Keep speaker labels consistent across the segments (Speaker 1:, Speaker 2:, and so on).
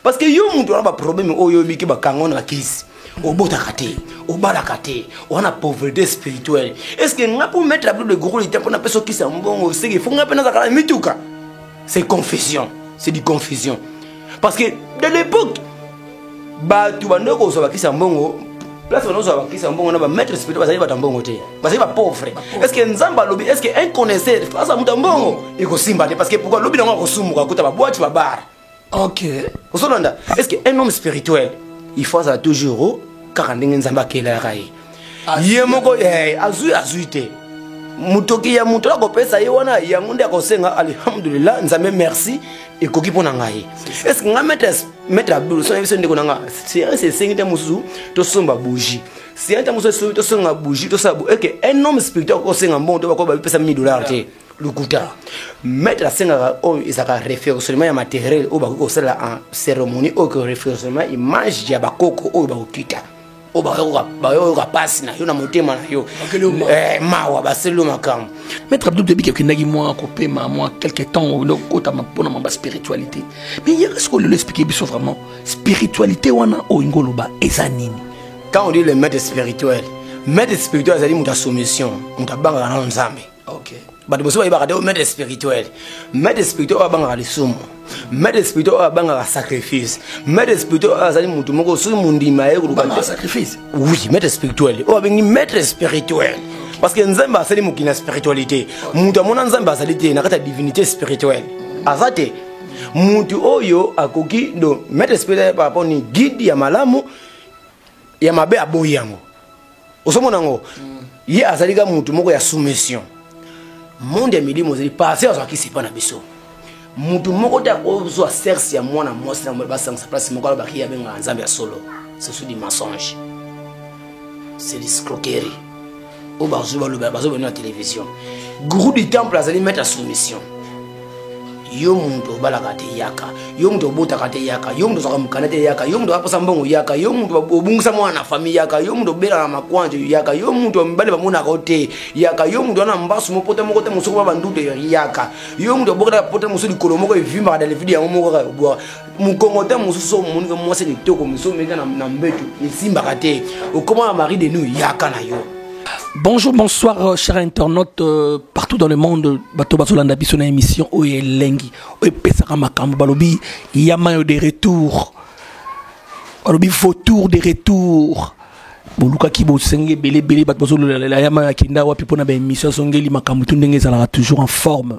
Speaker 1: parce que yo mutu wana baproblème oyo oyebiki bakango na kisi obotaka te obalaka te wana pauvreté spirituelle est ce que nga mpo mettre ablo de gros lita mpo napesa okisa mbongo seke fo nga mpe nazalaka na mituka c'est confusion c'est du confusion parce que de l'époque bato bando kozwa bakisa mbongo place bando kozwa bakisa mbongo na bamaître spirituel bazali bato ya mbongo te bazali bapauvre est ce que nzambe alobi est ce que un connaisseur face ya moto ya mbongo ekosimba te parce que pourkoi lobi nango akosumuka kuta babwati babare ok ozolanda est ce que un homme spirituel il faut azala toujours kaka ndenge nzambe akelaka ye ah, ye moko eh, azwi azwi te motoki ya moto akopesa ye wana yango nde akosenga alhamdulillah nzambe merci ekoki mpo na ngai estce ngai maître abdul sona biso ndeko na ngai seriese esengi te mosusu tosomba bougie siente mosusu tosonga bougie tosala eke un homme spirituel akosenga mbongo to bakoba bipesa 1000 dollars te lokuta maître asengaka oyo ezalaka référentiellement ya matériel oyo bakoki kosalela en cérémonie oyo ke référentiellement image ya bakoko oyo bakokita oyo bayoka mpasi na yo na motema na yo eh, mawa baseli yo makambo maître abdou toyebi ke
Speaker 2: okendaki mwa kopema mwa quelque temps okota mpona mwa baspiritualité mais yaka sikoyo lelo explike biso vraiment spiritualité wana oyo ngoloba eza nini quand on dit le
Speaker 1: maître spirituel maître spirituel azali moto ya soumission moto abangaka nano nzambe ok bato mosusu
Speaker 2: bayebaka te
Speaker 1: maître spirituel maître spirituel oyo abangaka lisumu maître spirituel oyo abangaka sacrifice maître spirituel oyo azali motu moko soki mondima ye koluka sacrifice
Speaker 2: oui maître spirituel
Speaker 1: oyo abengi maître spirituel parce que nzambe asali mokili na spiritualité moto amona nzambe azali te na kati ya divinité spirituelle aza te motu oyo akoki do maître spirituel par rapport ni guide ya malamu ya mabe aboyi yango ozomona yango ye azali ka motu moko ya soumission monde ya milimo ozali pase azwaki sipa na biso motu moko te akozwa serse ya mwana mwasi na mobali basangisa place moko alobaki abengaka nzambe ya solo ce sont du mensonge c'est discroquerie oyo bazo baloba bazo bino na télévision gourou du temple azali maître ya soumission yo mutu obalaka te yaka yo mutu obotaka te yaka yo mutu ozwaka mokanda te yaka yo mutu aposa mbongo yaka yo mutu obungisa mwana na famille yaka yo mutu obelaka makwanje yaka yo mutu mibale bamonaka yo te yaka yo mutu wana mbasu mopota moko te mosuku ba bandute yaka yo mutu obokataka pota mosusu likolo moko evimbaka dalevide yango moko kaka obwaka mokongote mosusu omoni ka mwasi kitoko mosusu omeka na mbetu esimbaka te okoma na marie de nous yaka na yo Bonjour,
Speaker 2: bonsoir, euh, chers internautes euh, partout dans le monde. Bato bazolanda biso na émission oyo elengi oyo epesaka makambo balobi yamayo de retour balobi vautour de retour bolukaki bosenge ebele ebele bato bazololela yamayo akenda wapi mpo na baémission azongeli makambo tu ndenge ezalaka toujours en forme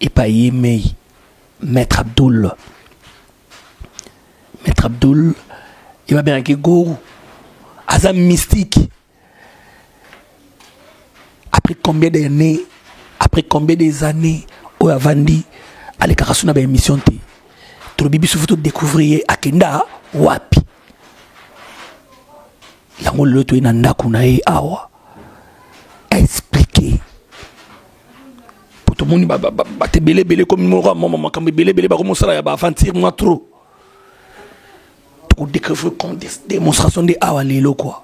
Speaker 2: epa ye mei Maitre Abdoul Maitre Abdoul ye babengaki gourou aza mystique après combien d'années après combien des années oyo avandi alekaka so na baémission te tolobi biso fo todécouvrir ye akenda wapi yango lelo toye na ndako na ye awa tomoni bato ebele ebele ekomi moko ya mama makambo ebele ebele bakomi kosala ya baaventure mwa trop tokodecouvrir démonstration nde awa lelo kua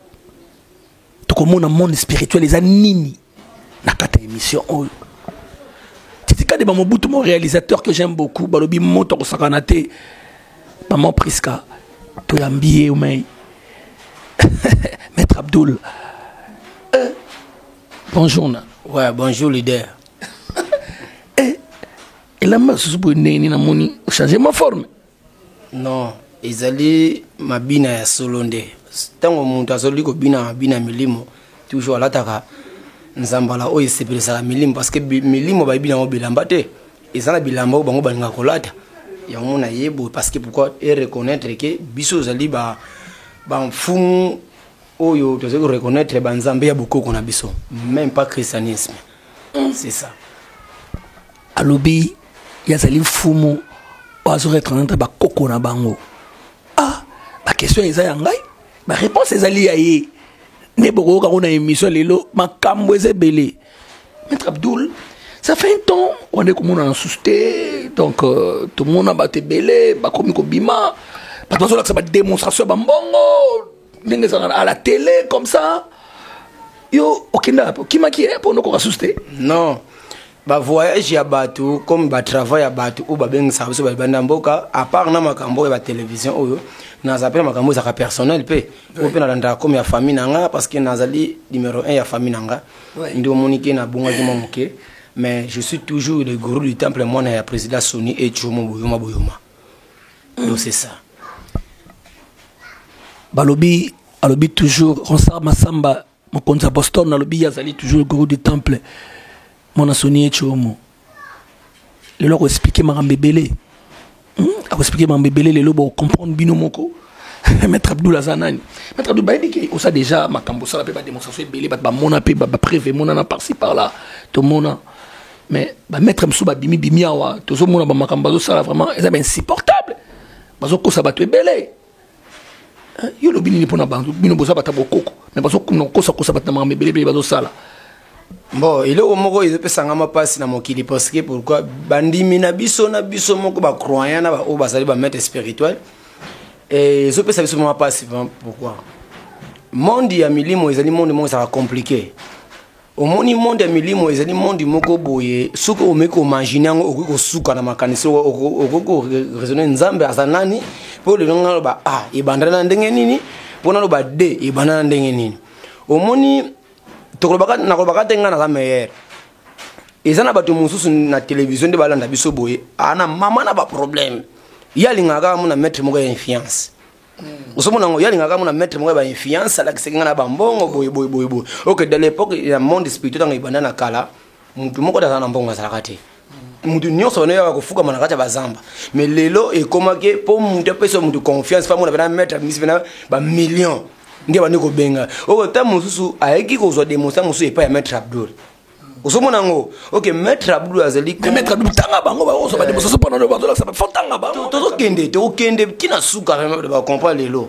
Speaker 2: tokomona monde spirituel eza nini na kati ya émission oyo titikade bamobutu mo réalisateur que j'aime beaucoup balobi moto akosakana te maman prisca toyambi ye omei maître abdoul Bonjour na. Ouais, bonjour leader.
Speaker 1: eh,
Speaker 2: elamba susu boye ndenge nini namoni ochange ma forme non
Speaker 1: ezali mabina ya solo nde ntango moto azali kobina mabina ya milimo toujours alataka nzambala oyo esepelisaka milimo parce que milimo bayebi yango bilamba te eza na bilamba oyo bango balingaka kolata yango na ye boye parce que pourquoi ereconnaitre ke biso ozali bamfumu ba oyo tozali ko reconnaitre ba nzambe ya bokoko na biso même pas christianisme c'est ça
Speaker 2: alobi yazali mfumu oyo azo reconnaître bakoko na bango ah bakestion eza ya ngai bareponse ezali ya ye nde bokoyoka ngo na émission lelo makambo eza ebele maître abdoul ça fait un temps wande komonana susu te donc euh, tomona bato ebele bakomi kobima bato bazolakisa badémonstration ya bambongo ndenge ezalaka à la télé comme ça yo okendaka mpe okimaki ye mpo nokoka susu te non
Speaker 1: bavoyage ya bato comme batravail ya bato oyo babengisaka biso babanda mboka apart na makambo oyo ya batelevizio oyo naza mpe na makambo ezalaka personnel mpe oyo mpe nalandaka comme ya famille na nga parce que nazali numero 1 ya famille na nga nde omoni ke nabongaki mwa moke mais je suis toujours le gourou du temple mwana ya président soni ecomo boyoma boyoma Non, c'est ça.
Speaker 2: Balobi, alobi toujours, Ronsard Massamba, mokonzi ya Boston, alobi ye azali toujours le gourou du temple. Mwana Sonie Chomo. Lelo ako expliquer makambo ebele. Hmm? Ako expliquer makambo ebele lelo bo comprendre bino moko. Maître Abdoul aza nani? Maître Abdoul bayebi ke osa déjà makambo sala pe ba démonstration ebele ba ba mona pe ba ba preuve mona na par ci par là. To mona. mais ba maître mosusu babimi bimi awa tozomona bamakambo bazosala vraiment eza bainsupportable bazokosa bato ebele hein, yo olobi nini mpona bantu bino boza bata bokoko mais bazokuna kokosakosa bato na makambo ebeleebele bazosala bon
Speaker 1: eloko moko ezopesanga mpasi na mokili parce que pourquoi bandimi na biso na biso moko bacroyant na baoyo bazali bamaître spirituel ezopesa biso mwa mpasi pourquoi monde ya milimo ezali monde moko ezalaka compliqué omoni monde ya milimo ezali monde moko boye soki omeki komagine yango okoki kosuka na makanisi okoki koraisonne nzambe aza nani mpo lelo ngai aloba a ah, ebanda na ndenge nini mpo naloba d ebanda na ndenge nini omoni nakolobaka te ngai naza meilleur eza na bato mosusu na televizio nde balanda biso boye ana ah, mama na baproblème ye alingaka kaka mona maître moko ya influence ozomona ngo yalinga kaka mona maître moko ya ba influence alakisaki nga na bambongo boye boye boye boye ok de l'époque ya monde spirituel ntango ebanda na kala mutu moko te azala na mbongo azalaka te mutu nyonso bana yaka kofukama na kati ya bazamba mais lelo ekomaki mpo mutu apesa mutu confiance mpo amona pena maître abimisi pena bamillion nde bandi kobenga oyo ntango mosusu ayaki kozwa demonstration mosusu epai ya maître abdul ozomona yango ok maître abdu azali maître abdu tanga bango
Speaker 2: baozo bande mosusu mpona no bazolakisa fo tanga bango tozokende tokokende
Speaker 1: ntina suka bacomprend lelo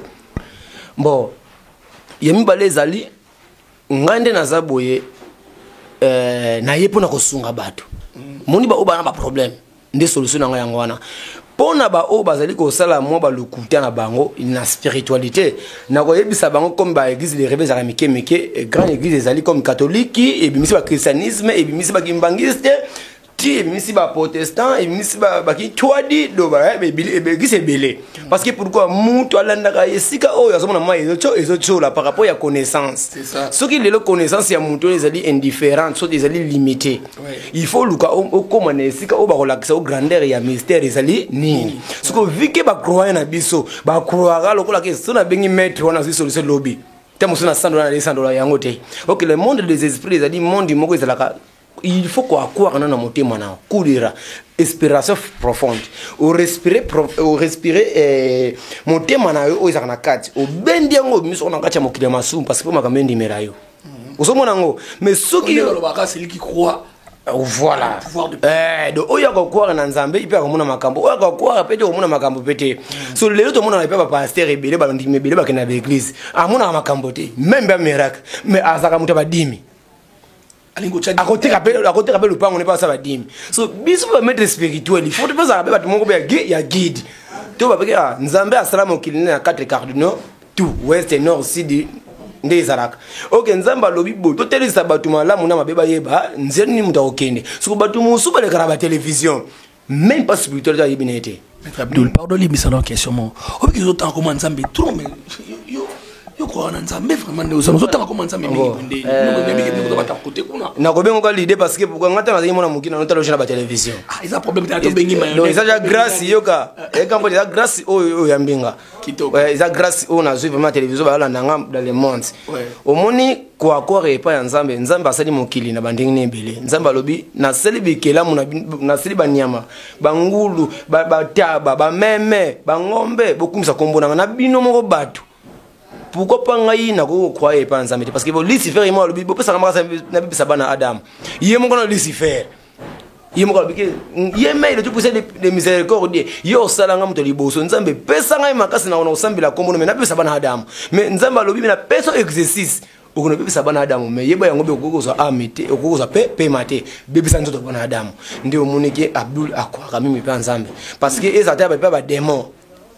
Speaker 1: bon ya mibale ezali ngai nde naza boye eh, naye mpona kosunga bato moni baoyo bana baproblème nde solution na ngai yango wana mpo na baoyo bazali kosala mwa balokuta na bango na spiritualité na koyebisa bango comme baeglise de reve ezalaka mike mike eh, grande église ezali comme katholiki ebimisi bakristianisme ebimisi bakimbangiste ti ebimisi baprotestant ebimisi bakitwadi doba eh, eglise ebele parce que pourquoi moto alandaka esika oyo azomona mai ezotiola par rapport ya connaissance soki lelo
Speaker 2: connaissance
Speaker 1: ya moto oyo ezali indifférente soki ezali limitée il faut oluka okoma na esika oyo bakolakisa o grandeur ya mystère ezali nini soko vike bacroye na biso bacroyaka lokola ke so nabengi maître wana azwi solution lobi te mosusu na 100 dola na 200 dola yango te ok le monde des esprits ezali monde moko ezalaka il faut koakwaka na na motema na kulira inspiration profonde orespire orespire eh, motema na yo oyo ezalaka na kati obendi yango obimisoko na kati ya mokili ya masumu parce que mpo makambo endimela yo mhm. ozomona yango mais soki olobaka celui qui croit
Speaker 2: euh, voilà
Speaker 1: eh, donc oyo akokwara na nzambe mpe akomona makambo oyo akokwara mpe te okomona makambo mpe te mhm. so lelo tomonaka mpe bapaster ebele bandimi ebele bakende na baeglise amonaka makambo te meme mpe amiracle mais azalaka moto ya badimi akoteka mpe lopango ne mpe asala badimi so biso bamaître spirituel ifo topezaka mpe bato moko mpe ya guide to babekea nzambe asala mokili ne na 4 cardinaux tout ouest nord sud nde ezalaka oke nzambe alobi boye totelisa bato malamu na mabe bayeba nzela nini moto akokende soko bato mosusu balekaka na batelevizio meme pas spirituel ayebi na ye te maître abdul pardon
Speaker 2: limbisa na question moko obiki ozotanga koma nzambe trop mais yokoka na nzambe vraiment nde ozana ozotanga koma nzambe mingi bondeobata oh, eh. kote kuna nakobengoka lide parce
Speaker 1: que pourkoi ngai ntango azali mwana moki nano taloge na batelevizio ah, eza problème tena
Speaker 2: tobengi maeza ja grace yoka
Speaker 1: ekambo eza grace oyo oyo ya mbinga Ouais, eza grâce oyo nazwi vraiment télévision bayolanda nga dans le monde omoni koakore epai ya nzambe nzambe asali mokili na bandenge na ebele nzambe alobi nasali bikelamu nasali banyama bangulu bataba bameme bangombe bokumisa nkombo nanga na bino moko bato pourquoi pas ngai nakoki kokroye epai ya nzambe te parce que lucifer ye moko alobi bopesaka makasi nabebisa bana adamu ye moko na lucifer ye moko alobi ke ye mai le topesa de miséricorde ye osala ngai moto ya liboso nzambe pesa ngai makasi nako na kosambela nkombo no me napesa bana adamu me nzambe alobi me napesa exercice okoki nabebisa bana adamu me yeba yango mpe okoki kozwa ame te okoki kozwa mpe pema te bebisa nzoto bana adamu nde omoni ke abdul akwaka mimi mpe ya nzambe parce que ezala te mpe bademon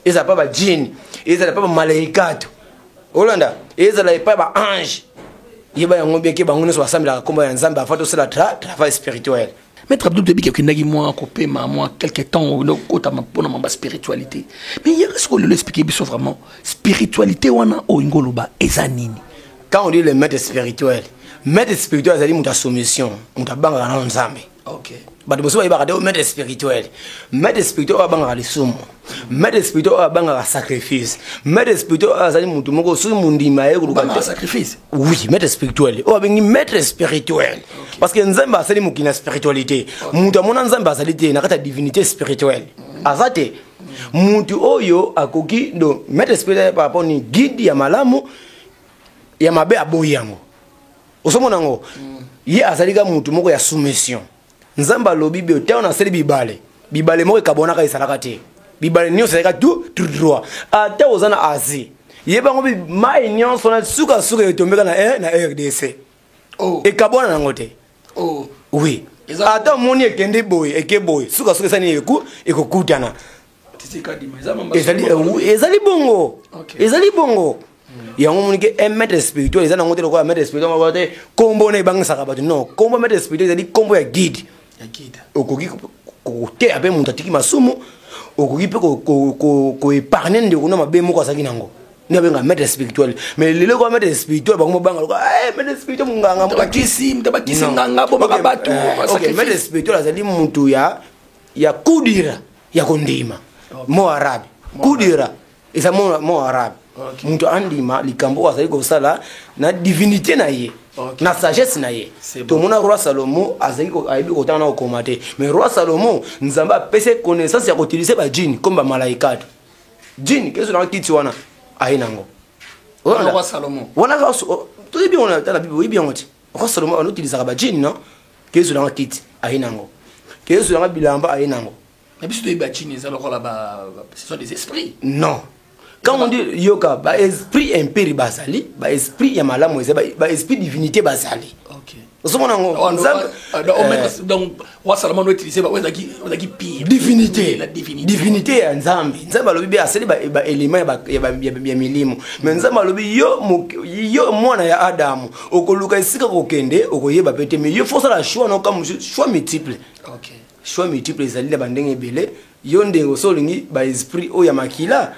Speaker 1: ezala mpe bajini ezala mpe bamalaikato olanda ezala epai ba ange yeba yango bien ke bango nyonso basambelaka nkombo ya nzambe avant tosala tra travail spirituel maître abdul toyebi ke
Speaker 2: okendaki mwa kopema mwa quelque temps okota mpona mamba spiritualité mais yaka sikoyo lelo explike biso vraiment spiritualité wana oyo ingo oloba eza nini quand on dit le
Speaker 1: maître spirituel maître spirituel azali moto ya soumission moto abangaka nano nzambe okay bato mosusu
Speaker 2: bayebaka te
Speaker 1: maître spirituel maître spirituel oyo abangaka lisumu maître spirituel oyo abangaka sacrifice maître spirituel oyo azali motu moko soki mondima ye kolukasacrifice
Speaker 2: oui maître spirituel
Speaker 1: oyo abengi maître spirituel parce que nzambe asali mokili na spiritualité moto amona nzambe azali te na kati ya divinité spirituelle aza te motu oyo akoki donc maître spirituel par rapport ni guide ya malamu ya mabe aboyi yango ozomona yango ye azali kaka motu moko ya soumission nzambe alobi bio ntango nasali bibale bibale moko ekabwanaka ezalaka te bibale nyonso ezalaka tu droit ata oza na asie ye bango mai nyonso na sukasuka etombeka na, eh, na rdc oh. ekabwana nango te oh. oui ata omoni ekende boye eke boye sukasuka esani ekokutana ezali bongo ezali bongo yango omoni ke un maître spirituel eza nango te lokola maître spirituel moko te nkombo na ebangisaka bato non nkombo maître spirituel ezali nkombo ya guide okoki koteya mpe moto atiki masumu okoki mpe koepargne ndeko na mabe moko azalaki nango nde abenga maître spirituel mais lelo kwa maître spirituel bango mobanga loka eh, maître spirituel monganga
Speaker 2: maître spirituel
Speaker 1: azali moto ya ya kudira ya kondima mo arabe kudira eza mo arabe moto andima likambo oyo azali kosala na divinité na ye okay. na sagesse na ye tomona roi salomo azali ayebi kotanga na kokoma te mais roi salomo nzambe apesi connaissance ya kotilise bajini comme bamalaikate jini keso nanga kiti wana aye nango
Speaker 2: wana
Speaker 1: toyebi yango na bible oyebi yango te Roi Salomon on utilise ba jeans non? Kezo na kiti aye nango. Kezo na bilamba aye nango. Na biso toyebi ba
Speaker 2: jeans eza lokola ba ce sont des esprits. Non.
Speaker 1: Quand on dit yoka ba esprit imperi bazali, ba esprit ya malamu ezali, ba esprit divinité bazali. OK. Ozo mona
Speaker 2: ngo. Donc
Speaker 1: roi salomon no utilise
Speaker 2: bango ezalaki ezalaki pire divinité la divinité
Speaker 1: divinité
Speaker 2: ya nzambe
Speaker 1: nzambe alobi be asali baelema ya milimo me nzambe alobi yo yo mwana ya adamu okoluka esika kokende okoyeba pe te me yo fo osala choix noka mosusu choix multiple okay. choix
Speaker 2: multiple
Speaker 1: ezali na bandenge ebele yo nde oso olingi baesprit oyo ya makila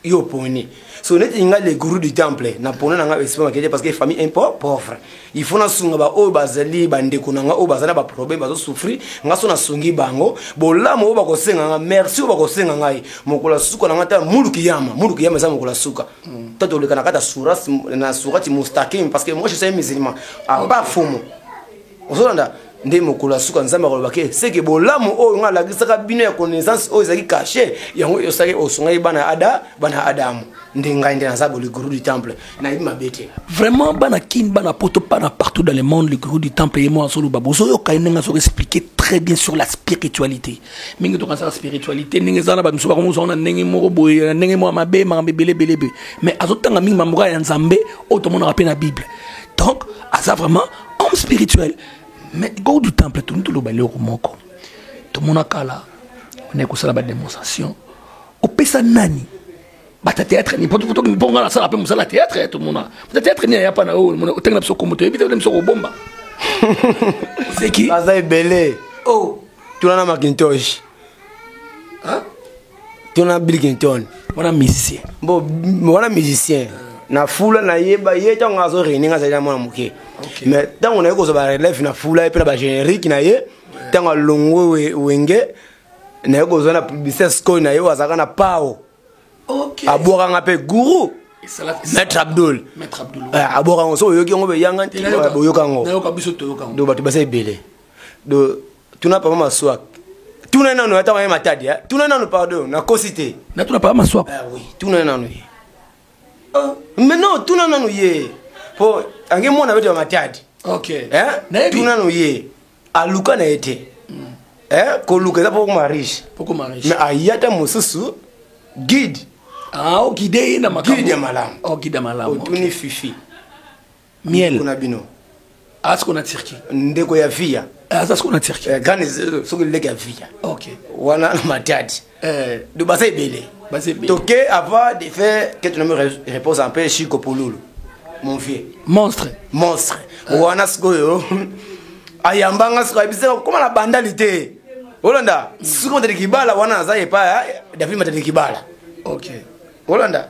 Speaker 1: yo oponi so neti nga le gourou du temple na pona na nga esprit makete parce que famille un peu pauvre il faut na sunga ba oyo bazali ba ndeko na nga oyo bazali ba problème bazo souffrir nga so na sungi bango bolamu oyo bakosenga nga merci oyo bakosenga ngai mokola suka na nga ta mulu kiyama mulu kiyama eza mokola suka mm. tata oleka na kata suras na surati mustaqim parce que moi je suis un musulman à part fumu ozolanda nde mokolo ya suka nzambe akolobaki eh, seke bolamu oyo ngai alakisaka bino ya connaissance oyo ezalaki kashe yango osaki osungaki bana ada bana adamu nde ngai nde naza boli guru du temple nayebi mabe te vraiment bana kin
Speaker 2: bana poto bana partout dans le monde le guru du temple ye moko azoloba bozoyoka ye ndenge azoka expliquer très bien sur la spiritualité mingi tokanisaka spiritualité ndenge eza na bamisu bakomozango na ndenge moko boye na ndenge moko ya mabe makambo ebele ebele ebe mais azotanga mingi mamboka ya nzambe oyo tomonaka mpe na bible donc aza vraiment homme spirituel mais go du temple toni toloba eloko moko tomona kala onai kosala bademonstration opesa nani bata théâtre ni mpo nga nasala mpe mosala théâtre ya tomona bata théâtre ni ayapa na oyo oh, otangi na biso kombo toyebi te na biso kobomba seki aza ebele
Speaker 1: o oh.
Speaker 2: tuna na macintosh
Speaker 1: to na bilkington wana musicien
Speaker 2: bo wana
Speaker 1: musicien na fula nayeba ye ntango azo rene nga azali na mwana moke mais ntango naye kozwa barelève na fula ye mpe na bagénérique na ye ntango alongo wenge naye kozwa na publicité sikoyo na ye oyo azalaka na pao
Speaker 2: abwaka nga mpe
Speaker 1: gourou maître abdul eh, abwaka yango so oyoki yango boyoka yango do
Speaker 2: bato baza ebele
Speaker 1: do tuna papa maswak tuna nanu ata maye matadi eh? tuna nanu pardon nakosi te natuna papa maswak
Speaker 2: ah, oui. tuna nanu
Speaker 1: ye oh. mais non tuna nanu ye po ange mwana bete bamatadi okay. eh? tuna nanu
Speaker 2: ye
Speaker 1: aluka na ye te mm. eh? koluka eza pokoma riche mais ayata mosusu guide ah, okide
Speaker 2: ye na makambo guide ya malamu okide oh, ya
Speaker 1: malamu otuni
Speaker 2: okay. fifi miel kuna bino
Speaker 1: aza siko na
Speaker 2: turquie ndeko ya viya
Speaker 1: eh, aza siko na turquie eh,
Speaker 2: grande eh, soki leke
Speaker 1: ya viya ok wana matadi eh. do baza ebele baza ebele toke avant de faire que tu me repose un peu chico polulu mon vieux monstre monstre
Speaker 2: eh. wana
Speaker 1: sikoyo ayamba nga sikoyo ayebisaka kokoma na bandali te olanda sikoyo matadi kibala wana aza epa david matadi kibala ok olanda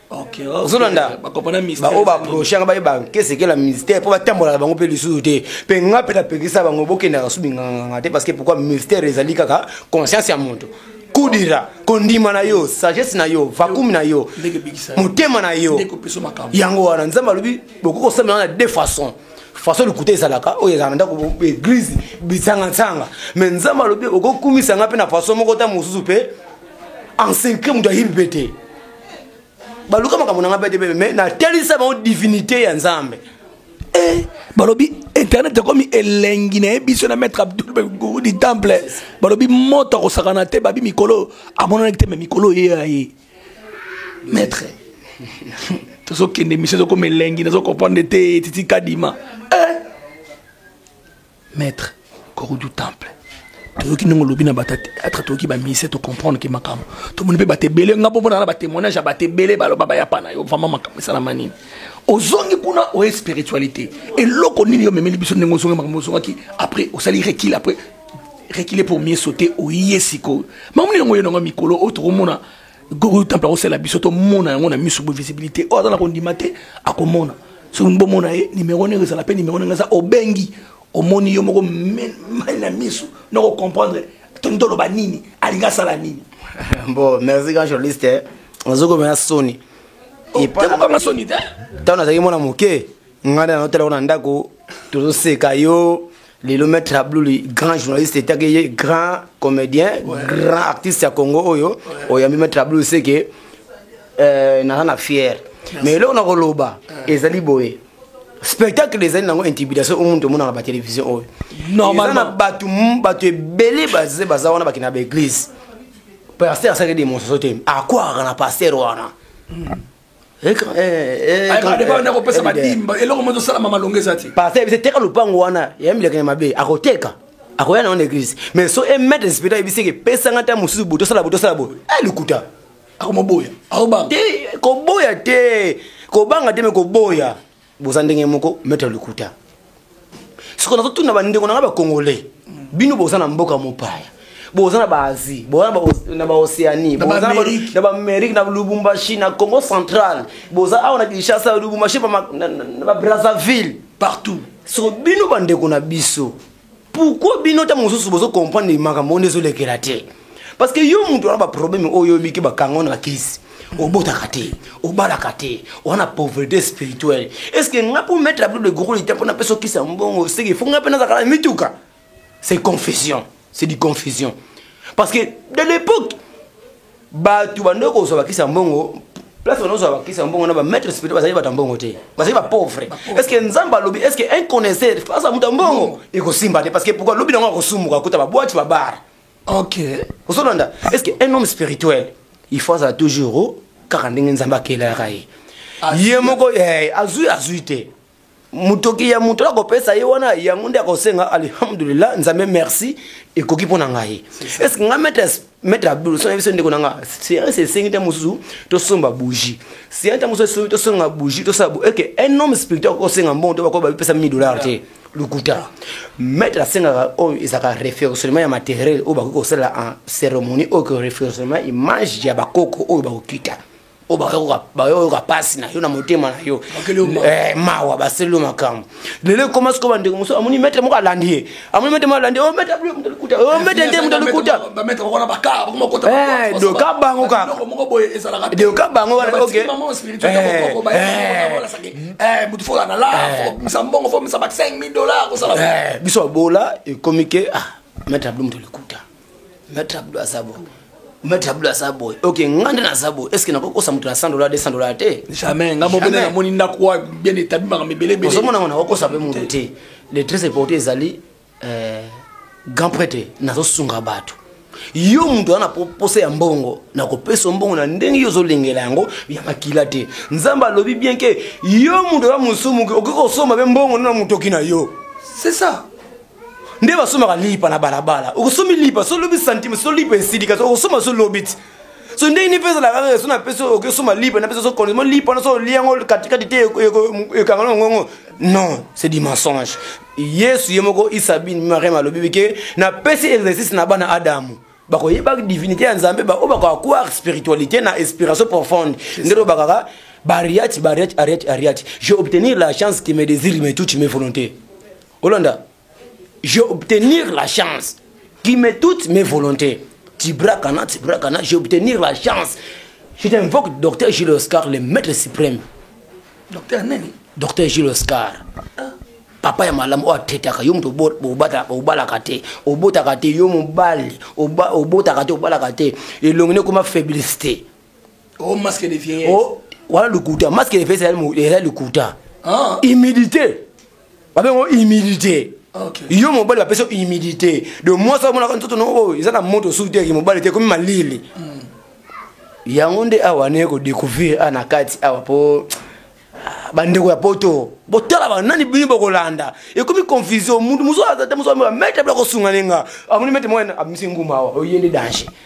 Speaker 1: ozolanda baoyo
Speaker 2: baprochaka baye
Speaker 1: bankesekela ministère mpo batambolaka bango mpe lisusu te mpe nga mpe napekisa bango bokendaka su binganganga te parce que pourquoi ministère ezali kaka conscience ya moto kudira kondima na yo sagesse na yo vakumi na yo motema na yo yango wana nzambe alobi bokoki kosamela na deux façons façon lokuta ezalaka oyo ezalaka ndako église bisangansanga me nzambe alobi okokumisa ngai mpe na façon moko ta mosusu mpe ensenkre moto ayebi mpe te baluka makambo na ngai bete bebe me natelisa bango divinité ya nzambe eh,
Speaker 2: balobi internet ekomi elengi na ye biso na maître abdul du temple balobi moto akosakana te babi mikolo amonanaki te me mikolo ye ya ye maître tozokende misio ezokoma elengi nazo comprendre te titi kadima eh. Maitre Koro du Temple. toyoki ndenge olobi na bato ya théâtre toyoki bamise tocomprendre ke makambo tomoni mpe bato ebele nga mpomona na batémoignage ya bato ebele baloba bayapa na yo vraiment makambo esalama nini ozongi kuna oye spiritualité eloko nini yo omemeli biso ndenge ozongi makambo ozongaki après osali rekil après rekile pour mieux sauter oye sikoyo makambo nini yango oyo nango mikolo oyo tokomona Gogo temple akosala biso tomona yango na miso bo visibilité oyo aza na kondima te akomona soki bomona ye nimero ndenge ezala mpe nimero ndenge eza obengi omoni yo moko mai na miso noko comprendre toni toloba nini alingi asala nini bon merci
Speaker 1: grand journaliste nazokomela soni
Speaker 2: ntango nazalaki mwana
Speaker 1: moke ngai na naotalako na ndako tozoseka yo lelo maître abluli grand journaliste etaki ye grand comédien ouais. grand artiste ya congo oyo ouais. oyambi maître abluli seke euh, naza na fiere mais eloko na koloba euh. ezali boye spectacle ezali nango intimidation oyo moto omonaka batelevizio oyo eza na bato bato ebele baze baza wana bakenda baeglise paster asalaki demonstration te akwaka na paster wana mm. nakopesa badimba eloko mozo salama malonga eza te paster ebise teka lopango wana ya mileke ya mabe akoteka akoya nango na église mais so emettre spirita ebiseke epesanga nta mosusu boye tosala boye tosala boye e lokuta akomoboya
Speaker 2: akoboya
Speaker 1: te kobanga te me koboya boza ndenge moko maître lukuta sikoyo nazotuna bandeko na ngai bacongolais bino boza na mboka mopaya boza na baasie boza na baocéanie na baamérique na lubumbashi na congo central boza awa na kinshasa lubumbashi na babrazzaville partout
Speaker 2: soko bino
Speaker 1: bandeko na biso pourquoi bino ntango mosusu bozo comprendre makambo wana ezolekela te parce que yo moto wana baproblème oyo oyebiki bakanga ona bakisi obotaka te obalaka te wana pauvreté spirituelle est ce que nga mpo mettre ablo de gros lita mpo napesa okisa mbongo seke fo nga mpe nazalaka na mituka c'est confusion c'est du confusion parce que de l'époque bato bande kozwa bakisi ya mbongo place bande kozwa bakisi ya mbongo na bamaître spirituel bazali bato ya mbongo te bazali bapauvre est ce que nzambe alobi est ce que inconnaisseur face ya moto ya mbongo ekosimba te parce que pourkoi lobi nango akosumuka kuta babwati babare ok
Speaker 2: ozolanda
Speaker 1: est ce que un homme spirituel il faut azala toujours kaka ndenge nzambe akelaka ye ye moko eh, azwi azwi te motoki ya moto na kopesa ye wana yango nde akosenga alhamdulillah nzambe merci ekoki mpo na ngai estce nga maître abdul sona biso ndeko na nga serience esengi ntango mosusu tosomba bougie serience ntango mosusu esengi tosonga bougie tosala eke un homme spirituel akosenga mbongo to bakoba bipesa 1000 dollar te lokuta maître asengaka oyo ezalaka référentiellement ya matériel oyo bakoki kosalela en cérémonie oyo ko référentiellement image ya bakoko oyo bakokita oyo bayoka mpasi na yo na motema na yo eh, mawa baseli yo makambo lelo ekoma sikoyo bandeko mosusu amoni mete moko alandi ye amoni mete moko alandi omete oh, moto likuta omete oh, nde moto likuta
Speaker 2: doka bango
Speaker 1: kaka
Speaker 2: doka bango wana oke biso abola
Speaker 1: ekomi ke ah mete ablo moto likuta Maître Abdou aza boye. Maître Abdou aza boye. Ok, nga nde naza boye. Est-ce que nakoki kosa moto na 100 dollars, 200 dollars te? Jamais. Nga mobele na
Speaker 2: moni ndako wa bien établi makambo ebele ebele. Ozomona ngo nakoki kosa pe moto
Speaker 1: te. Le très important ezali euh, grand prêtre nazosunga bato yo moto wana posa ya mbongo nakopesa mbongo na ndenge yo ozolengela yango ya makila te nzambe alobi bien ke yo moto ya mosumuki okoki kosomba mpe mbongo nde na motoki na yo c'est ça
Speaker 2: nde
Speaker 1: basombaka lipa na balabala okosomi lipa so lobi santime so lipa esilika so okosomba so lobi ti so ndenge nini mpe ezalaka kaka so napesi okosomba lipa napesi so kondismo lipa na so olia yango katikati te ekanga na ngongo non c'est du mensonge yesu ye moko isabine mariam alobi ke napesi exercice na bana adamu bakoyeba divinité ya nzambe baoyo bakoakuar spiritualité na inspiration profonde nde lobaka kaka bariati bariati ariati ariati je obtenir la chance qui me désire me touche mes volontés olanda j'ai obtenir la chance qui met toutes mes volontés tibrakana tibrakana j'ai obtenir la chance je t'invoque docteur Gilles Oscar le maître suprême docteur
Speaker 2: nani docteur Gilles Oscar
Speaker 1: ah. papa ya malamu oyo atetaka yo moto obalaka te obotaka te yo mobali obotaka te obalaka te elongi nekoma faiblise te oh,
Speaker 2: oh, wana lokuta
Speaker 1: masque de vieillesse ezali lokuta ah. humidité babengo humilité okay. yo mobali
Speaker 2: bapesi yo
Speaker 1: humilité de mwasi amonaka nzoto no oyo eza na moto osusu te yaki mobali te ekomi malili mm. yango nde awa naye kodécouvrir a na kati awa mpo ah, bandeko ya poto botala banani bini bokolanda ekomi confusion mutu mosusu aza te mosusu ameka mete bila kosunga nenga amoni mete mwana amisi nguma awa oye nde danger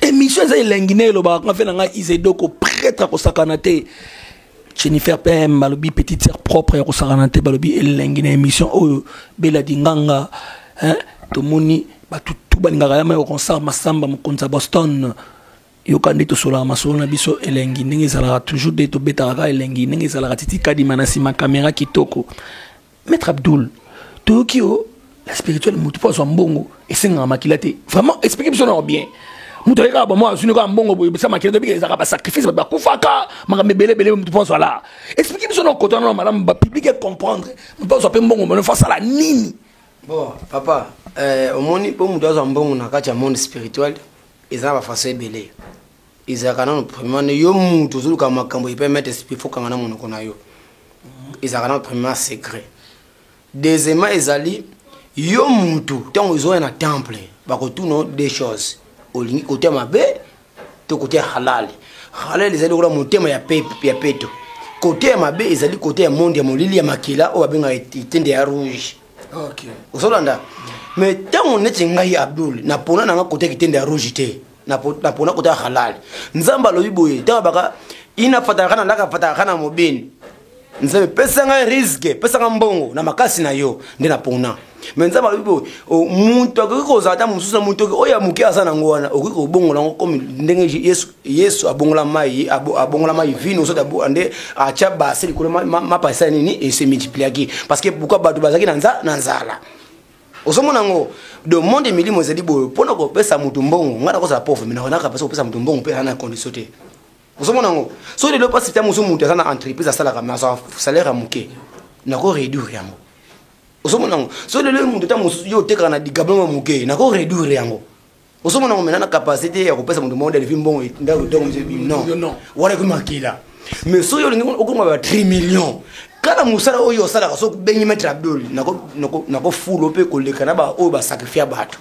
Speaker 1: emission eza elengi
Speaker 2: na elobaka nga mpe na ngai izedoko pretre kosakana te jennifer pm balobi petite sœur propre ya kosakana te balobi elengi na émission oyo bela dinganga hein? tomoni bato tu balingaka yama ya concert masamba mokonzi ya boston yoka nde tosolaka masolo na biso elengi ndenge ezalaka toujours nde tobetaka kaka elengi ndenge ezalaka titi kadima na nsima kamera kitoko Maître Abdul, toyoki yo la spirituelle mutu po azwa mbongo esengaka makila te. Vraiment explique biso na bien. Mutu ayeka ba mwa azuni ka mbongo boye bisa makila te bika ezaka ba sacrifice ba kufaka makambe bele bele mutu po azwa la. Explique biso na kota na madame ba public et comprendre. Mutu azwa pe mbongo mbona fa sala nini? Bon, papa,
Speaker 1: euh, omoni po mutu azwa mbongo na kati ya monde spirituel eza ba façon ebele. ezalaka nano première yo mutu ozoluka makambo epai maitre esprit fo kanga na monoko na yo ezalaka nano première secret deuxièmement ezali yo mutu ntango ezoya na temple bakotuna deux choses olingi kote ya mabe to kote ya halali halali ezali lokola motema ya peto kote ya mabe ezali kote ya monde ya molili ya makila oyo babengaka etende ya rouge okay.
Speaker 2: ozolanda
Speaker 1: mais ntango neti ngai abdul napona nanga kote ya kitende ya rouge te napona kota ya halali nzambe alobi boye ntango baka ina fatalaka na laka fatalaka na mobeni nzambe pesa ngai riske pesa ngai mbongo na makasi na yo nde napona me nzambe alobi boye moto akoki kozala ata mosusu na moto oyo ya moke aza nango wana okoki kobongola yango komi ndenge yesu, yesu abongola mai abongola mai vino soki nde atya base likolo mapa esala nini ese multipliaki parce que pourkui bato bazalaki na nzala ozomona yango de monde milimo ezali boye mpo na kopesa moto mbongo ngai nakozala pauvre me nakonaka mpasi kopesa moto mbongo mpe ana na condition te ozomona yango so lelo mpasi ntango mosusu moto aza na entreprise asalaka me azwa salaire ya moke nako réduire yango ozomona yango so lelo moto ntango mosusu yo otekaka na digablo ya moke nako réduire yango ozo mona ngomela na capacité ya kopesa moto moko delivi mbongo ndako ndako mzee non wana ekomi makila mais soki olingi okoma ba 3 millions kala mosala oyo osalaka soki obengi maître abdol nakofulo mpe koleka na baoyo basakrifia bato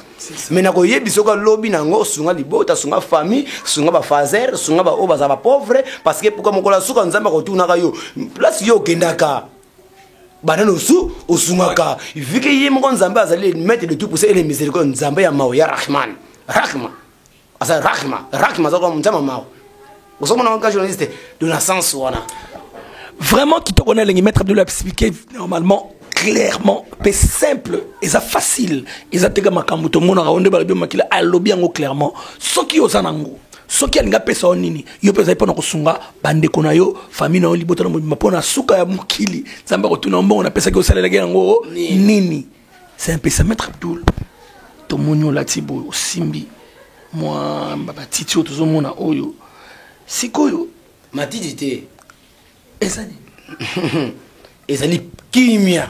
Speaker 1: mai nakoyebisa oka lobi na yango sunga libota sunga famille sunga bafaser sunga baoyo baza bapauvre parce que pourkua mokolo ya suka nzambe akotunaka yo place yo okendaka banani osu osungaka vike ye moko nzambe azali maître de tout pousse ele miséricorde nzambe ya mawa ya rahman rahma aza rahma rahma aza kwa nzambe mawa ozomona wanka journaliste de la sens wana vraiment
Speaker 2: kitoko na elengi maître abdul expliqué normalement clairement mpe simple eza facile eza teka makambo tomonaka yango nde balobi makila alobi yango clairement soki oza nango soki alingi apesa yo nini yo mpe ozali mpo na kosunga bandeko na yo fami na yo libota na mobima mpo na suka ya mokili nzambe akotuna yo mbongo napesaki osalelaki yango nini c'est un peu ça maître abdoul tomoni olati boye osimbi mwa batiti oyo tozomona oyo sikoyo matiti
Speaker 1: te ezali ezali kimia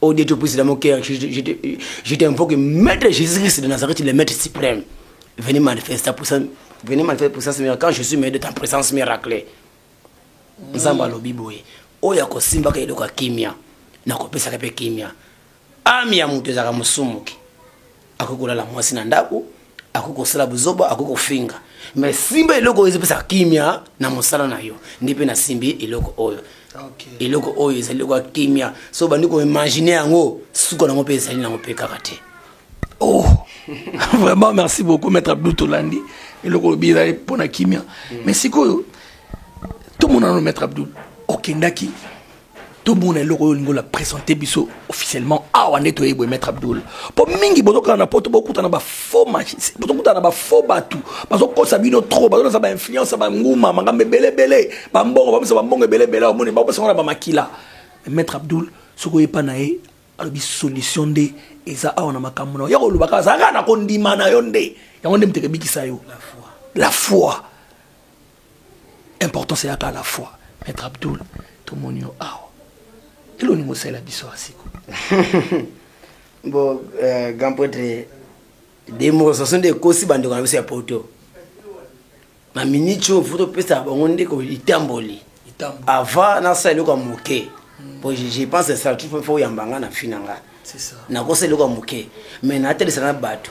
Speaker 1: Oh Dieu, tu puisses dans mon cœur. Je, je, je, je t'invoque, Maître Jésus-Christ de Nazareth, le Maître suprême. Venez manifester ta puissance. Venez manifester ta puissance miracle. Quand je suis maître de ta présence miracle. Nzamba alobi boye. Oyo akosimbaka eloko ya kimia. Nakopesaka mpe kimia. Ami ya moto ezalaka mosumuki. akoki kolala mwasi na ndako akoki kosala buzoba akoki kofinga me simba eloko oyo ezopesa kimia na mosala na yo ndi mpe nasimbi eloko oyo okay. eloko oyo ezali eloko ya kimia so obandi koimagine yango suka nango mpe ezali nango mpe kaka te oh
Speaker 2: vraiment merci beaucoup maître abdou tolandi eloko olobi ezali mpo na kimia mm. mais sikoyo tomonano maître abdou okendaki tomona eloko oyo olingi ola presente biso officiellement awa nde toyebi boye maître abdoul mpo mingi bozokana na poto bokutana bafaux magis bozokutana na bafaux bato bazokosa bino trop bazolasa bainfluence ya banguma makambo ebeleebele bambongo bamisa bambongo ebeleebele awa moni bakopesa ngo na bamakila maître abdoul soki oyepa na ye alobi solution nde eza awa na makambo na yo ya koloba kaka azalaka na kondima na yo nde yango nde moto ekebikisa yo la foi importance eyaka à la fois maître abdul tomoni yo awa elo olingi osalela biso ya siko bo
Speaker 1: euh, grand prêtre demonstration nde ekosi bandeko na biso ya poto na minute oyo fo topesa bango nde litamboli avant nasala eloko ya moke po je pense esala tu fo oyamba nga na fi na nga nakosala
Speaker 2: eloko ya moke
Speaker 1: mais natelisa na bato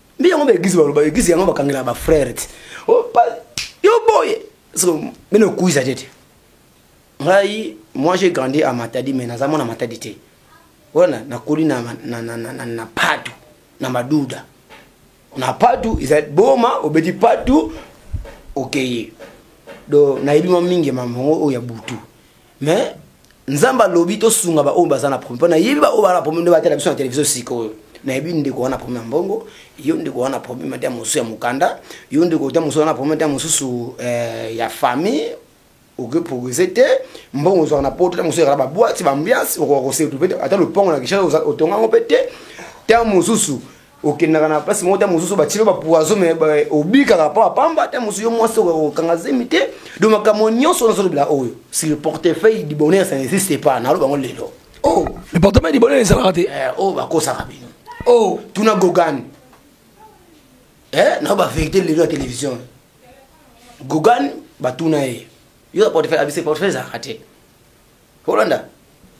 Speaker 1: nde yango ba eglise baloba eglise yango bakangela ba frère ti oh, yo boye mene okuiza te te ngai moi j'ai grandi à matadi mais naza mwana matadi te wana nakoli na, na, na, na, na, na padu na maduda na padu ezali boma obeti padu okeye okay. do nayebi mwa mingi mamango oyo ya butu mais nzambe alobi tosunga baoyo baza na problème mpo nayebi baoyo baza na problème nde batala biso na televizio sikoyo nayebi ndeko wana problème ya mbongo yo ndeko wana problème ata mosusu ya mokanda yo ndeko ata mosusu wana problème ata mosusu eh, ya famille okoprogrese te mbongo ozwaka na poto ta mosusu ezala baboite baambiance okoka kosetu mpe ata lopango na kishasa otonga yango mpe te ta mosusu okendaka na place moko te mosusu batilo bapoison me obikaka mpo apamba te mosusu yo mwasi okanga zemi te do makambo nyonso nazolobela oyo si le portefeuille du bonheur ça n'existe pas naloba yango lelo o oh. le portefeuille
Speaker 2: du bonheur ezalaka te eh, oyo oh, bakosaka
Speaker 1: bino o oh. tuna gogane eh, nao baverité lelo ya télévision gogane batuna ye yo portefeuille abise portefeuille ezalaka te olanda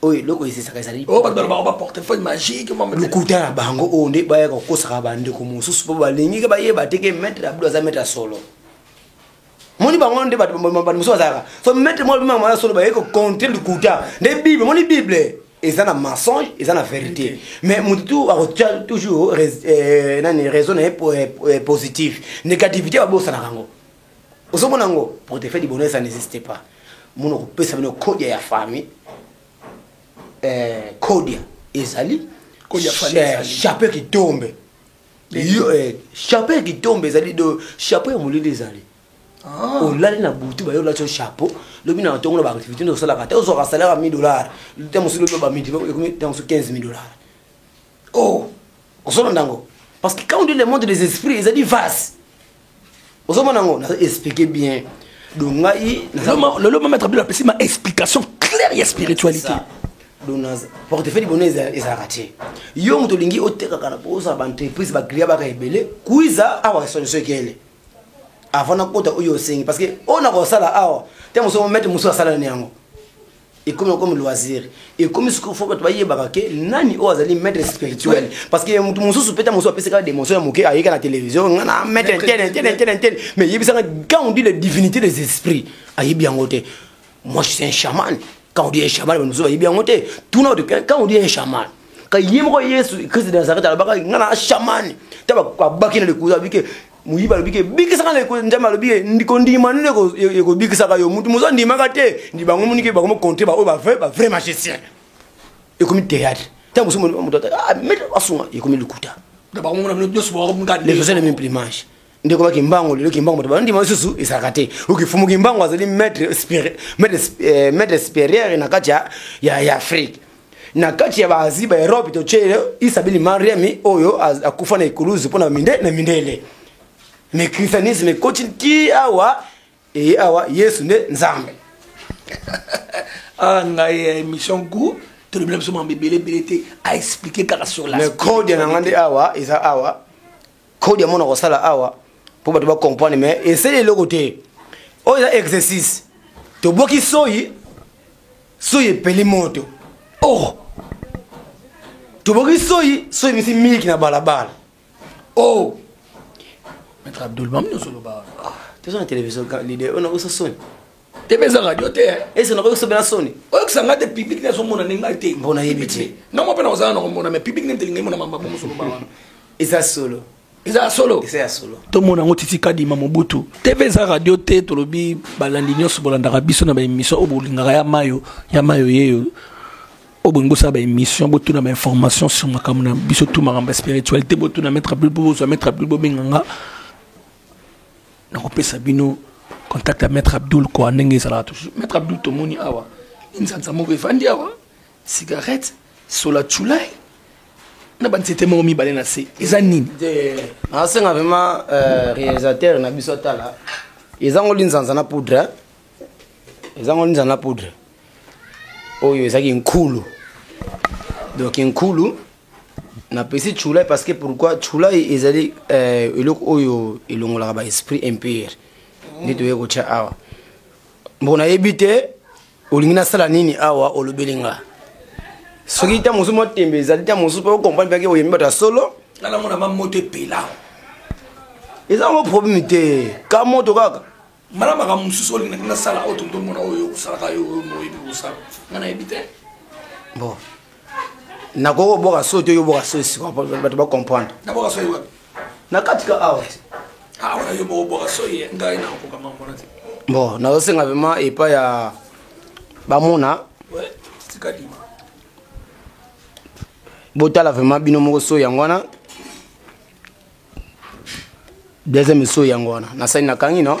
Speaker 1: oyo eloko ezesaka ezali oyo oh, bato balobaka baportefeuille
Speaker 2: magique lokuta na bango oyo
Speaker 1: nde bayaka kokosaka bandeko mosusu mpo balingi ke bayeba te ke maître abdu aza maître ya solo moni bango nde bato mosusu bazalaka so maître moko bimaka mwana solo baye kocontre lokuta nde bible moni bible eza na mensonge eza na vérité mais moto tu akotya toujours euh, nani raison na ye euh, euh, positif négativité babosanaka yango ozomona yango portefeuille du bonheur ça n'existe pas mona kopesa bino kodia ya famille eh, kodia ezali
Speaker 2: eh, chapeau kitombe
Speaker 1: eh, chapeau kitombe ezali do chapeau ya molili ezali ah. olali na butu baye olati chapeau lobi na ntongo na baactivité nde osalaka te ozwaka salaire ya 1000 dollar te mosusu lobi bamidi ekomi te mosusu 15 000 dollar o oh, ozolanda yango parce que quand on dit le monde des esprits ezali vase ozomona yango nazo explike bien do ngai lelo mama etabilo
Speaker 2: apesi ma explication claire ya spiritualité
Speaker 1: portefeuille libona ezalaka te yo moto olingi otekaka na bozala baentreprise baclia baka ebele kuiza awa esonisoekele avant nakota oyo osengi parce que oyo nakosala awa te mosu mete mosusu asala na yango ekomi okomi loisir ekomi sikoyo fo bato bayebaka ke nani oyo azali maître spirituel parce que moto mosusu mpe ta mosusu apesaka démotion ya moke ayeka na télévision nga na maître ntene ntene ntene ntene mais yebisaka quand on dit les divinités des esprits ayebi yango te moi je suis un chaman quand on dit un chaman bato mosusu bayebi yango te tuna oto quand on dit un chaman ka ye moko yesu christ de nazareth alobaka nga na chaman ta babaki na lekuza abike moyibi alobi ke bikisaka na ekolo nzambe alobi ke kondima nini ekobikisaka yo motu mozo andimaka te ndi bango monike bango mokontre baoyo bavrai bavrai magicien ekomi théâtre ntango mosusu moto ah, mete basunga ekomi lokuta
Speaker 2: lefosele mimplimange
Speaker 1: ndeko ba kimbango lelo kimbango bato bandima lisusu ezalaka te okifumu kimbango azali maître eh, supérieur na kati ya afrique na kati ya baasie ba europe totyele isabili mariami oyo akufa na ekuluzu mpo na minde na mindele me christianisme ekoti ti awa eye awa yesu nde nzambe ah,
Speaker 2: ngai eh, émission goût tolobela biso mambo ebele ebele te aexplike kaka sur la code na ngai nde
Speaker 1: awa eza awa code ya mona kosala awa mpo bato bacomprendre mais esali eloko te oyo eza exercice toboki soyi soyi epeli moto oh toboki soyi soyi misi miliki na balabala oh
Speaker 2: maître abdul bami ozoloba wana ah, toza na télévision
Speaker 1: lide oyo nakosa soni tebe eza radio
Speaker 2: te eh. ese nakoki kosobela soni
Speaker 1: oyokisa ngai te public
Speaker 2: nazomona ndenge ngai te mpo nayebi te ngai
Speaker 1: mwa mpe nakozala na
Speaker 2: komona mais public nde ntelingai mona mambabo mosoloba wana eza solo
Speaker 1: eza ya solo eza ya
Speaker 2: solo tomona yango titi kadima mobutu tv eza radio te tolobi balandi nyonso bolandaka biso na baémission oyo bolingaka ya mayo ya mayo yeyo oyo bolingi bosala baémission botuna bainformation sur makambo na biso tu makambo ya spiritualité botuna maître abdul po bozwa maître abdul bobenga nga nakopesa bino contact ya maître abdul koa ndenge ezalaka toujours maître abdul tomoni awa nzanza moko efandi awa Cigarette, sola chulai na ba nzete moko mibale na se eza nini nasenga
Speaker 1: vraiment euh, réalisateur na biso atala eza ngo linzanza na poudre hein? eza ngo linzanza na poudre oyo ezalaki nkulu donc nkulu napesi chulai parce que pourquoi chulai ezali euh, eloko oyo elongolaka ba esprit impire nde toyei kotya awa mpo nayebi te olingi nasala nini awa olobeli nga soki ntango mosusu mwa tembe ezali ntango mosusu mpe okomprane mpeke oyembi bato ya solo nalamona mamoto
Speaker 2: epela
Speaker 1: eza yango probleme te ka moto kaka mala makambo mosusu
Speaker 2: olingi nasala oyo totomona oyo osalaka yo oyo moyebi kosala nga nayebi te bon
Speaker 1: nakoki kobwaka so te oyoboka so esika bato bacomprendre
Speaker 2: na kati ka awa bon nazosenga
Speaker 1: vraimen epai ya bamona botala vraimen bino moko so yango wana deuxième so yango wana nasali nakangi no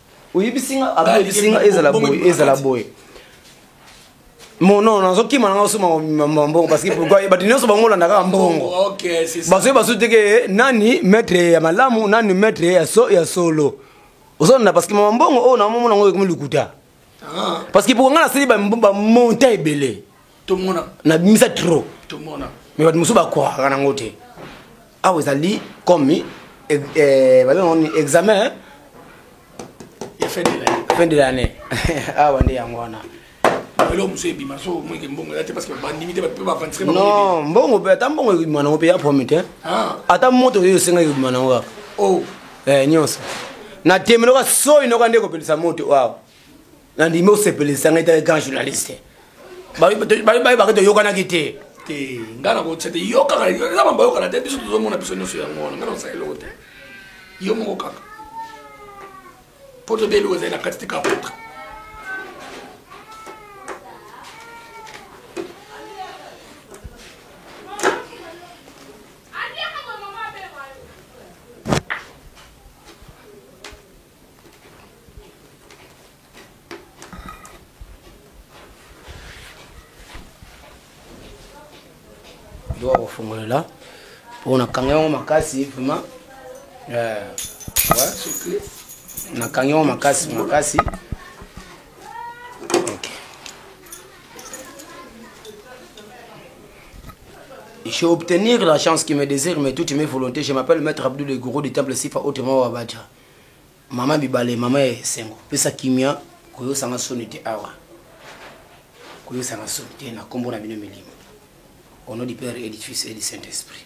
Speaker 1: oyebisi nga aba oyebisi nga ezala boye ezala boye mono nazokima nanga osoma mbongo parce que pourquoi bato nyonso bango olandaka mbongo oh, basoki
Speaker 2: basu teke eh,
Speaker 1: nani maître ya malamu nani maître ya solo ozolanda parce que mama mbongo oyo oh, namomona yango ekomi lokuta ah. parce que pourquoi nga nasali bamonta ebele na
Speaker 2: bimisa trop
Speaker 1: me
Speaker 2: bato mosusu bakwaka
Speaker 1: nango te awa ezali comme eh, eh, babengaoni examen
Speaker 2: fin
Speaker 1: de l'année awa nde yango wana eloko
Speaker 2: mosusu ebima so omweke mbongo eza te parce que bandimi te bato mpe bavantire non mbongo mpe
Speaker 1: ata mbongo ekobima nango mpe ya promi te ah. ata moto oyo osengaki ekobima nango kaka oh. eh,
Speaker 2: nyonso
Speaker 1: na temeloka soi noka nde ekopelisa moto awa nandimi osepelisa ngai te grand journaliste bayebaka toyokanaki te te ngai
Speaker 2: nakotya te yo kaka eza mambo ayokana te biso tozomona biso nyonso yango wana ngai nakosala eloko te yo moko kaka mpo tobe eloko ezali na kati te kapotre
Speaker 1: doa kofongolela mpo nakanga yango makasi vraimen eh, nakanga yango makasi makasi J'ai obtenu la chance qui me désire, mais toutes mes volontés. Je m'appelle Maître Abdou le gourou du temple Sifa, autrement Wabadja. Maman bibale maman ya esengo pesa kimia koyosa nga soni te awa koyosa nga soni te na kombo na bino milimo au nom du père et du fils et du saint esprit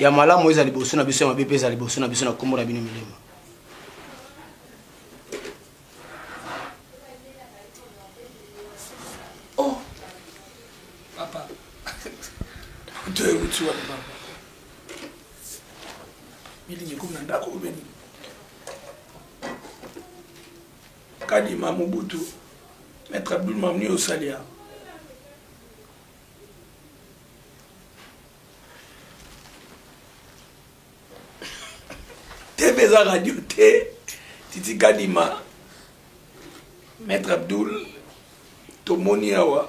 Speaker 1: ya malamu oyo eza liboso na biso ya mabe mpe eza liboso na biso na nkombo na bino milimo
Speaker 2: Bilingi ekomi na ndako oyo beni. Kadima Mobutu, Maître Abdul Mamni Osalia. TV eza radio te, Titi Kadima, Maître Abdul, tomoni awa.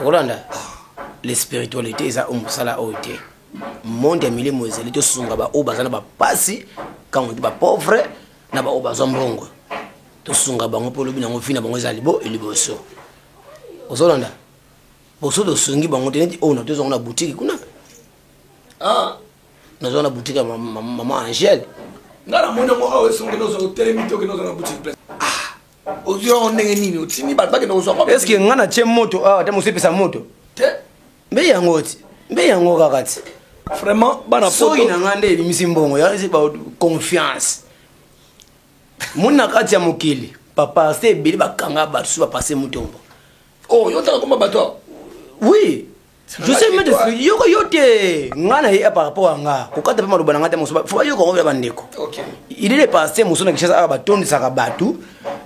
Speaker 1: okolanda le spiritualité eza oyo mosala oyo te monde ya milimo ezali tosunga baoyo baza na bapasi kango ba pauvre na baoyo bazwa mbongo tosunga bango mpo olobi nango vi na bango eza libo liboso ozolanda boso tosungi bango te neti oyo na tozwango na butiki kuna ah,
Speaker 2: nazwa
Speaker 1: na butiki ya mama angele nga namoni yango
Speaker 2: awa esongeli ozwa otelemi te okende ozwa na butiki ozwi yango ndenge nini otindi bato bakende kozwa est ce que ngai natye moto
Speaker 1: awa te mosu epesa moto te
Speaker 2: mbe yango
Speaker 1: ti mbe yango kaka ti vraiment bana
Speaker 2: soki na ngai nde ebimisi
Speaker 1: mbongo yazi ba confiance moni na kati ya mokili papa se ebele bakanga bato su bapase motombo oh yo ntaka
Speaker 2: koma bato oui
Speaker 1: je sais même de yoko yo te nga na ye par rapport à nga kokata mpe maloba na nga te mosuba fo bayoko yango bya bandeko il est le
Speaker 2: passé
Speaker 1: mosusu na kinshasa awa batondisaka bato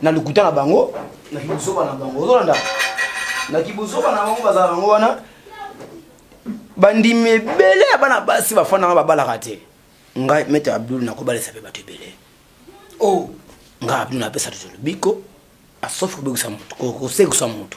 Speaker 1: na lokuta na bango na kibuzoba na bango ozolanda na kibuzoba na bango bazalaka yango wana bandimi ebele ya bana basi bafandanga babalaka te ngai mete abdul nakobalisa mpe bato ebele o oh.
Speaker 2: ngai abdul
Speaker 1: napesa tozolo biko asofi kobekisa moto kosekisa moto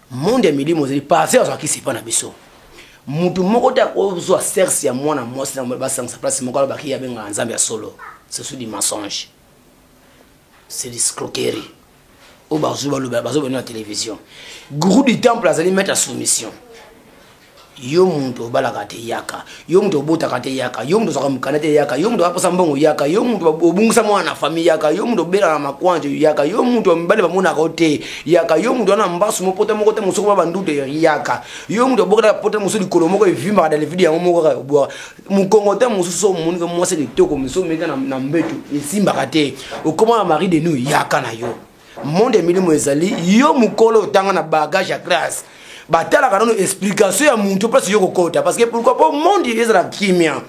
Speaker 1: monde ya milimo ezali pase azwa kisi epa na biso mutu moko te akozwa serse ya mwana mwasi na basangisa place moko alobaki ye abengaka nzambe ya solo ce sont du mensonge c'est du scroquerie oyo bazwi balobela bazobena na télévision gourou du temple azali maître ya soumission Yo mutu obalaka te yaka, yo mutu obotaka te yaka, yo mutu ozwaka mukanda te yaka, yo mutu aposa mbongo yaka, yo mutu obungisa mwana na famille yaka, yo mutu obela na makwanje yaka, yo mutu mibali bamonaka yo te yaka, yo mutu wana mbasu mo pota moko te mosusu ba bandute yaka, yo mutu obokela pota mosusu likolo moko evimbaka dale vide yango moko kaka obwa mukongo te mosusu omoni ko mwasi kitoko mosusu omeka na, na mbetu esimbaka te okoma na mari de nous yaka na yo monde ya milimo ezali yo mokolo otanga na bagage ya classe batalaka nano explication ya muntu place yo kokota parce que pourquoi po monde ezala kimia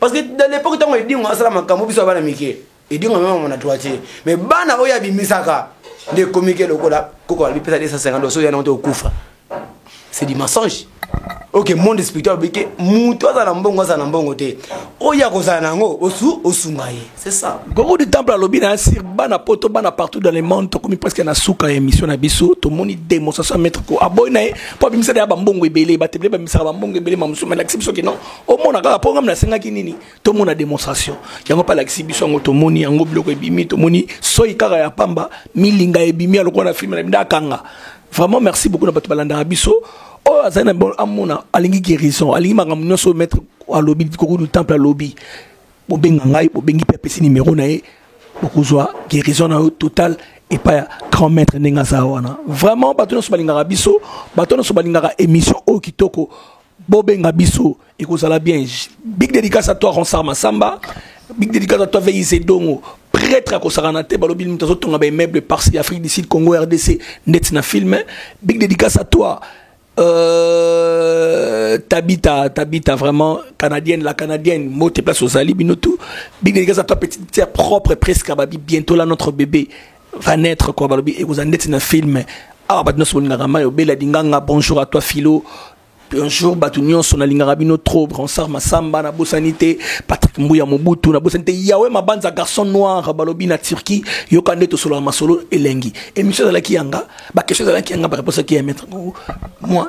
Speaker 1: parce que dans l'époque ntango edingo asala makambo biso ya bana mike edingo amemama na droitier mais bana oyo abimisaka nde ekomike lokola koko alipesa 250 doso yana ote okufa c'est du mensonge ok monde spirituel alobi ke moto aza na mbongo aza na mbongo te oyo akozala na yango osu osunga ye c'est ça gogo du temple alobi na
Speaker 2: sur bana poto bana partout dans le monde tokomi presque na suka ya émission na biso tomoni démonstration ya maître ko aboyi na ye mpo abimisaka ya bambongo ebele batebele bamisaka bambongo ebele mamosusu malakisi biso ke non omona kaka mpo ngam nasengaki nini tomona demonstration yango mpe alakisi biso yango tomoni yango biloko ebimi tomoni soi kaka ya pamba milinga ebimi alokola na filme na bino akanga vraiment merci beaucoup na bato balandaka biso oyo azali na bol amona alingi guérison alingi makambo nyonso oyo maître alobi likoko du temple alobi bobenga ngai bobengi mpe apesi nimero na ye bokozwa guérison na yo total epai ya grand maître ndenge aza wana vraiment bato nyonso balingaka biso bato nyonso balingaka émission oyo kitoko bobenga biso ekozala bien big dédicace à toi ronsar masamba big dédicace à toi veise dongo prêtre akosakana te balobi moto azotonga baimmeuble parci afrique du sud congo rdc ndeti na film big dédicace à toi euh, Tabita, Tabita, vraiment canadienne, la canadienne, moté place aux alibes, nous tout. Big dédicace à toi, petite sœur propre, presque à Babi, bientôt là, notre bébé. va naître quoi balobi ekozala ndeti na film awa bato nyonso bolingaka mai obela dinganga bonjour à toi philo bonjour bato nyonso nalingaka bino trop ronsard masamba nabosani te patrick mbuya mobutu nabosani te yawe mabanza garçon noir balobi na turquie yoka nde tosolaka masolo elengi émission ezalaki yanga bakestion ezalaki yanga bareponse eki ya maître moi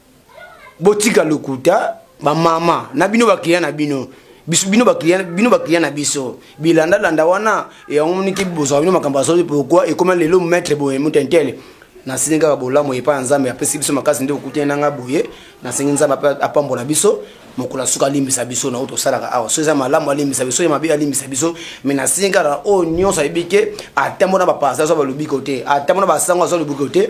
Speaker 1: botika lokuta bamama na bino baklia na bino biso bino baklia bino baklia na biso bilandalanda wana yango moniki bozwa bino makambo azoi pourkui ekoma lelo maître boye motentele nasengi kaka bolamu epai ya nzambe apesi biso makasi nde okutani na ngai boye nasengi nzambe apambola biso mokolo asuka alimbisa biso na oyo tosalaka awa so eza malamu alimbisa biso ya mabe alimbisa biso mai nasengi kaka oyo nyonso ayebi ke atambo na bapasa azwa balobiko te atambo na basango azwa lobiko te